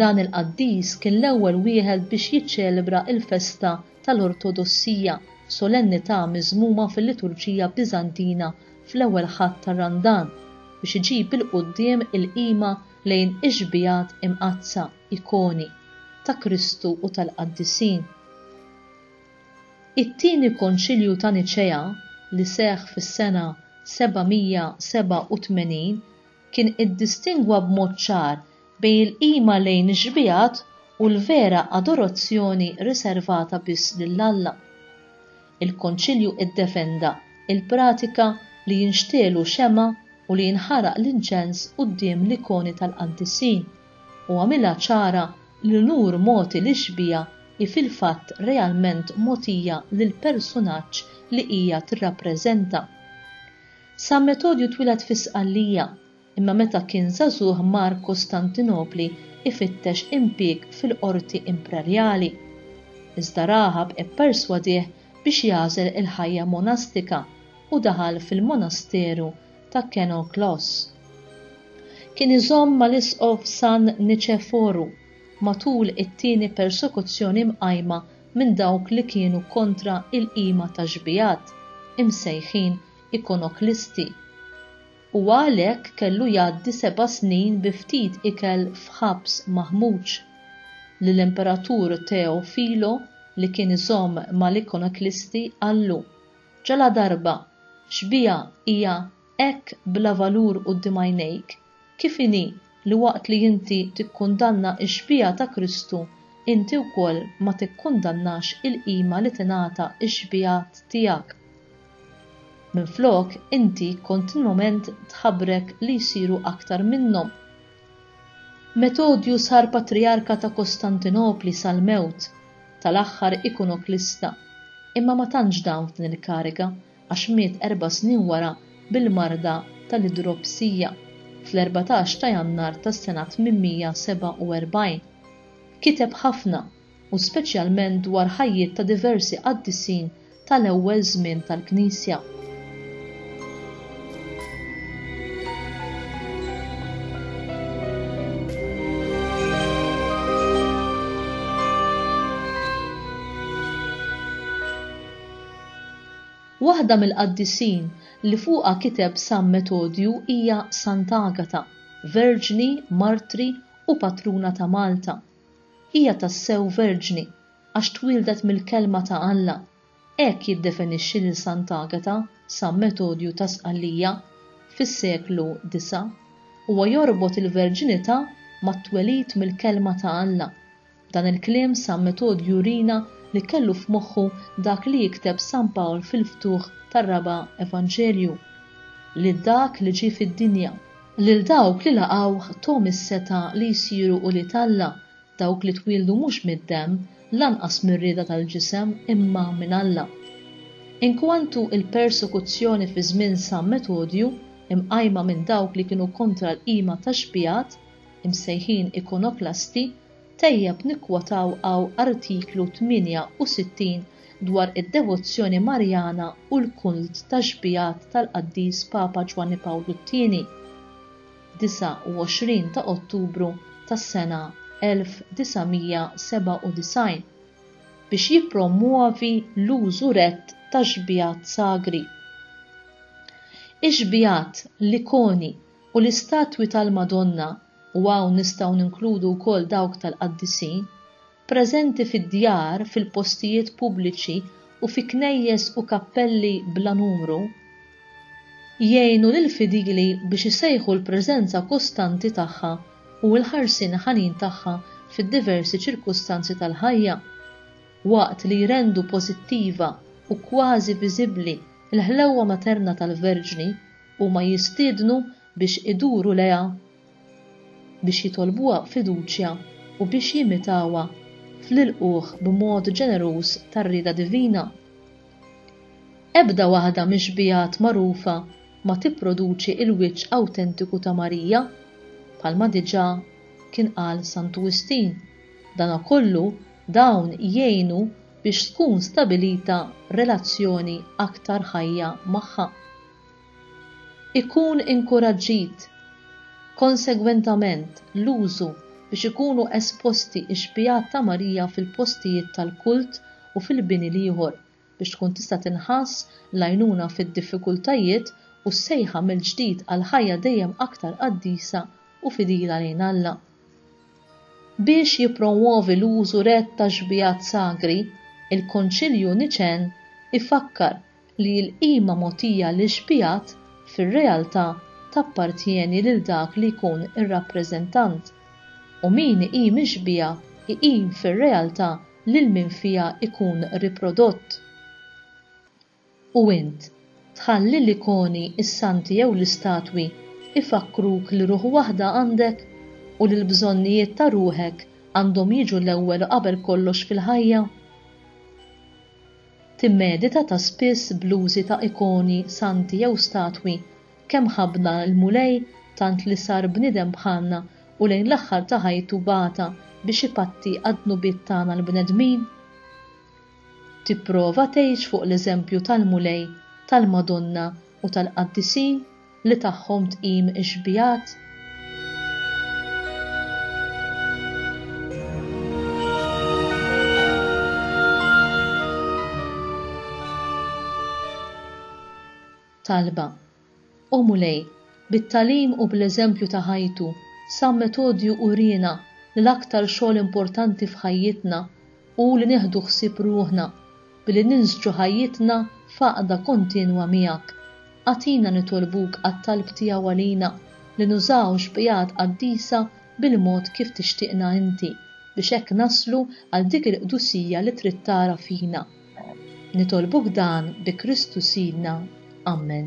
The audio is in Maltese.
Dan il-qaddis kien l-ewwel wieħed biex jiċċelebra l-festa tal-Ortodossija f'solennità miżmuma fil-liturġija Biżantina fl-ewwel Ħadd ta' Randan biex iġib 'il quddiem il-qima lejn ix-xbiehat imqaddsa, ikoni, ta' Kristu u tal-qaddisin. It-Tieni Konċilju ta' Niċea, li seħħ fis-sena 787, kien iddistingwa b'mod ċar bejn il-qima lejn ix-xbiehat u l-vera adorazzjoni riservata biss lil Alla. Il-Konċilju iddefenda l-pratika li jinxtegħlu xemgħa u li jinħaraq l-inċens quddiem l-ikoni tal-qantissin, u għamilha ċara li l-unur mogħti lix-xbieha hi fil-fatt realment mogħtija lill-personaġġ li hija tirrappreżenta. San Metodju twieled fi Sqallija, imma meta kien żagħżugħ mar Kostantinopli ifittex impieg fil-qorti imprerjali. Iżda Raħab ipperswadih biex jagħżel il-ħajja monastika u daħal fil-monasteru ta' Kenoklos. Kien iżomm mal-Isqof San Niċeforu matul it-tieni persekuzzjoni mqajma minn dawk li kienu kontra il-qima tax-xbiehat, imsejħin ikonoklisti, u għalhekk kellu jgħaddi seba' snin bi ftit ikel f'ħabs maħmuġ, li l-Imperatur Teofilo li kien iżomm mal-ikonoklisti qallu, Ġaladarba, xbieha hija hekk bla valur quddiem għajnejk? Kif inhi li waqt li inti tikkundanna x-xbieha ta' Kristu, inti wkoll ma tikkundannax il-qima li tingħata x-xbiehat tiegħek? Minflok, inti kontinwament tħabrek li jsiru aktar minnhom. Metodju sar patrijarka ta' Kostantinopli sal-mewt tal-aħħar ikonoklista, imma ma tantx dam f'din il-kariga, għax miet erba' snin wara bil-marda tal-idropsija, fl-erbatax ta' Jannar tas-sena 847. Kiteb ħafna, u speċjalment dwar ħajjiet ta' diversi qaddisin tal-ewwel żmien tal-Knisja. Waħda mill-qaddisin li fuqha kiteb San Metodju hija Sant'Agata, verġni, martri u patruna ta' Malta. Hija tassew verġni, għax twieldet mill-Kelma ta' Alla. Hekk jiddefinixxi lil Sant'Agata San Metodju ta' Sqallija fis-seklu disa'. Huwa jorbot il-verġinità mat-twelid mill-Kelma ta' Alla. B'dan il-kliem San Metodju jurina li kellu f'moħħu dak li jikteb San Pawl fil-ftuħ tar-raba' Evanġelju, Lil dak li ġie fid-dinja, lil dawk li laqgħuh thom is-setgħa li jsiru ulied Alla, dawk li twieldu mhux mid-demm, lanqas mir-rieda tal-ġisem imma minn Alla. Inkwantu l-persekuzzjoni fi żmien San Metodju, imqajma minn dawk li kienu kontra l-qima tax-xbigħat, imsejħin ikonoklasti, Tajjeb nikkwotaw hawn Artiklu 68 dwar id-devozzjoni Marjana u l-kult tax-xbiehat tal-Qaddis Papa Ġwanni Pawlu t-Tieni, 29 ta' Ottubru tas-sena 1997, biex jippromwovi l-użu rett tax-xbiehat sagri. Ix-xbiehat, l-ikoni u l-istatwi tal-Madonna u hawn nistgħu ninkludu wkoll dawk tal-qaddisin, preżenti fid-djar, fil-postijiet pubbliċi u fi knejjes u kappelli bla numru, jgħinu lill-fidili biex isejħu l-preżenza kostanti tagħha u l-ħarsien ħanin tagħha fid-diversi ċirkustanzi tal-ħajja, waqt li jrendu pożittiva u kważi viżibbli l-ħlewwa materna tal-Verġni, huma jistiednu biex iduru lejha, biex jitolbuha b'fiduċja u biex jimitawha fl-ilqugħ b'mod ġeneruż tar-rieda divina. Ebda waħda mix-xbiehat magħrufa ma tipproduċi l-wiċċ awtentiku ta' Marija, bħalma diġà kien qal Santu Wistin, danakollu dawn jgħinu biex tkun stabilita relazzjoni aktar ħajja magħha. Ikun inkuraġġit, konsegwentament, l-użu biex ikunu esposti x-xbiehat ta' Marija fil-postijiet tal-kult u fil-bini l-ieħor biex tkun tista' tinħass l-għajnuna fid-diffikultajiet u s-sejħa mill-ġdid għal ħajja dejjem aktar qaddisa u fidila lejn Alla. Biex jippromwovi l-użu rett tax-xbiehat sagri, il-Konċilju Niċen ifakkar li l-qima mogħtija lill-xbigħat fir-realtà tappartjeni lil dak li jkun ir-rappreżentant, u min iqim ix-xbieha jqim fir-realtà lil min fiha jkun riprodott. U int, tħalli l-ikoni, is-santi jew l-istatwi jfakkruk li ruħ waħda għandek u li l-bżonnijiet ta' ruħek għandhom jiġu l-ewwel u qabel kollox fil-ħajja? Timmedita ta' spiss bl-użi ta' ikoni, santi jew statwi, kemm ħabbna l-Mulej tant li sar bniedem bħalna u lejn l-aħħar ta' ħajtu bagħatha biex ipatti għad-dnubiet tagħna l-bnedmin? Tipprova tgħix fuq l-eżempju tal-Mulej, tal-Madonna u tal-qaddisin? li tagħhom tqim ix-xbigħat? Talba. O Mulej, bit-tagħlim u bl-eżempju ta' ħajtu, San Metodju uriena li l-aktar xogħol importanti f'ħajjitna u li nieħdu ħsieb ruħna billi ninsġu ħajjitna f'għaqda kontinwa miegħek. Agħtina nitolbuk għat-talb tiegħu għalina li nużaw xbigħat qaddisa bil-mod kif tixtieqna inti biex hekk naslu għal dik il-qdusija li trid tara fina. Nitolbuk dan bi Kristu Sidna. Ammen.